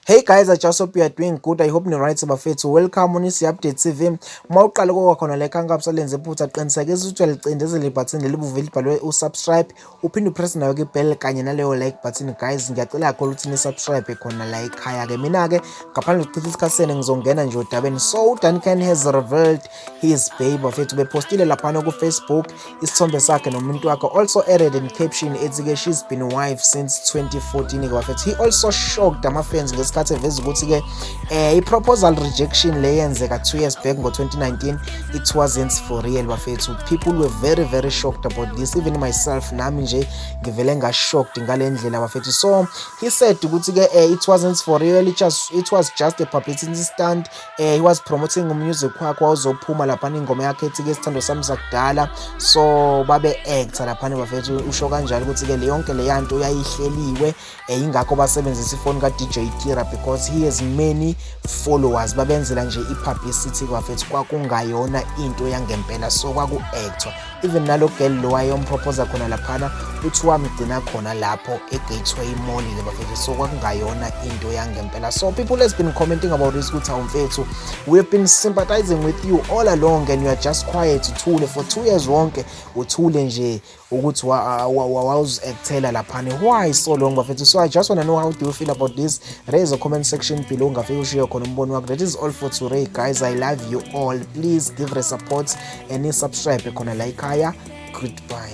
Hey guys, I just hope you are doing good. I hope ni right bafethu. Welcome on isi update TV. Uma uqala kokwa khona le khanka busalenze iphutha qinisekisa ukuthi uyalicindezela ibutton lelibuve libhalwe usubscribe. Uphinde upress nayo ke bell kanye naleyo like button guys. Ngiyacela kakhulu ukuthi ni subscribe khona la ekhaya ke. Mina ke ngaphandle kokuchitha isikhathi senu ngizongena nje odabeni. So Dan Ken has revealed his babe bafethu bepostile laphana kufacebook isithombe sakhe nomuntu wakhe also added in caption ethi ke she's been wife since 2014 ke bafethu he also shocked ama-fans ngesikhathi eveza ukuthi ke eh, i-proposal rejection le yenzeka two years back ngo-2019 it wasn't for real bafethu people were very very shocked about this even myself nami nje ngivele ngashocked ngale ndlela bafethu so he said ukuthi ke eh, it wasn't for real it, just, it was just a publicity stunt eh he was promoting umusic wakhe wawuzophuma laphana ingoma yakhe ethi ke sithando sami sakudala so babe actor laphana bafethu usho kanjalo ukuthi ke le yonke le yanto uyayihleliwe eh ingakho basebenzisa ifoni ka DJ Kira because he has many followers babenzela nje i publicity bafethu kwakungayona into yangempela so kwaku actor even nalo girl lo wayomprophosa khona laphana uthi wamgcina khona lapho egateway mall le bafethu so kwakungayona into yangempela so people has been commenting about this ukuthi awumfethu we have been sympathizing with you all along and you are just quiet uthule for two years wonke uthule nje ukuthi wawuzi-actela laphana why so long bafethu so i just wanna know how do you feel about this raise a comment section below ungafike ushiye khona umbono wakho that is all for today guys i love you all please give her support and ni subscribe khona la ikhaya goodbye